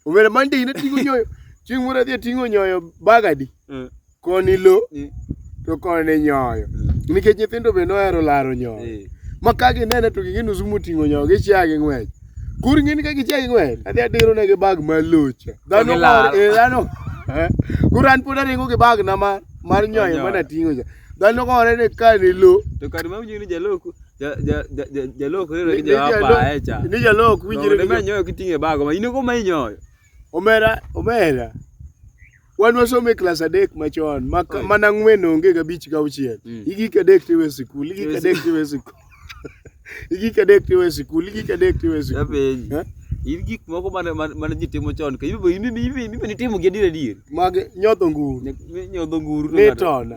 Omera Monday in ating'o nyoyo. Chieng' moro adhi ating'o nyoyo bagadi. Mm. Koni lo Mm. to koni nyoyo. Nikech nyithindo be nohero laro nyoyo. Eh. Ma ka ginene to ging'e nusu moting'o nyoyo gichia gi ng'wech. Koro ing'e ni ka gichia gi ng'wech adhi adiro negi bag ma locha. Dhano To gilaro. mor- eh, dhano. eh. Koro an pod aringo gi bag na ma mar nyoyo Nyoyo. mana ting'o cha. Dhano gore ni ka ni lo To kar ma winjo ni jaloko Jalok rere gi jawapa echa. Ni jalok winjire. Ne manyoyo kiting'e bago ma in go ma inyoyo. Omera, omera. Wan wasomo e klas adek machon, mana ng'wen onge ga bich ga auchiel. Mm. Igik adek tiwe sikul, igik adek tiwe sikul. Igik adek tiwe sikul, igik adek tiwe sikul. Eh? in gik moko mane ji timo chon ka ibe nitimo gi adier adier mag nyodho nguru nyodho nguru nitona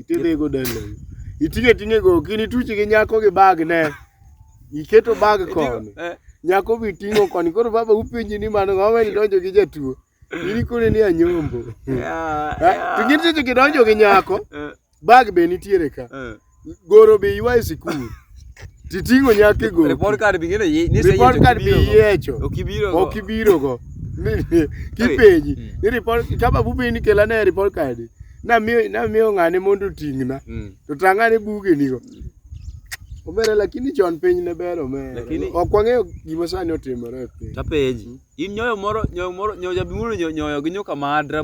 Itidhi go dalo. Itinge tinge go kini tuchi gi nyako gi bag ne. Iketo bag kon. Eh. Nyako bi tingo kon koro baba upenji ni mano ng'awa ni donjo gi jatuo. Ini kone ni anyombo. Yeah. Eh, to gin tuchi gi donjo gi nyako. Eh. Bag be nitiere ka. Eh. Goro be ywa e sikul. Titing'o nyaka e goki. Report card bing'e ni Report card biyiecho. Ok ibiro go. Ok ibiro go. Kipenji. Hmm. Ni report kama bubi ni kela ne report card. Na mi na mi ng'ane mondo ting'na. Hmm. To tang'ane buge nigo. Obere lakini chon piny ne bero me. Lakini ok wang'eyo gima sani otimore e piny. Tapenji. In nyoyo moro nyoyo moro nyoyo jabimuru nyoyo gi nyoka madra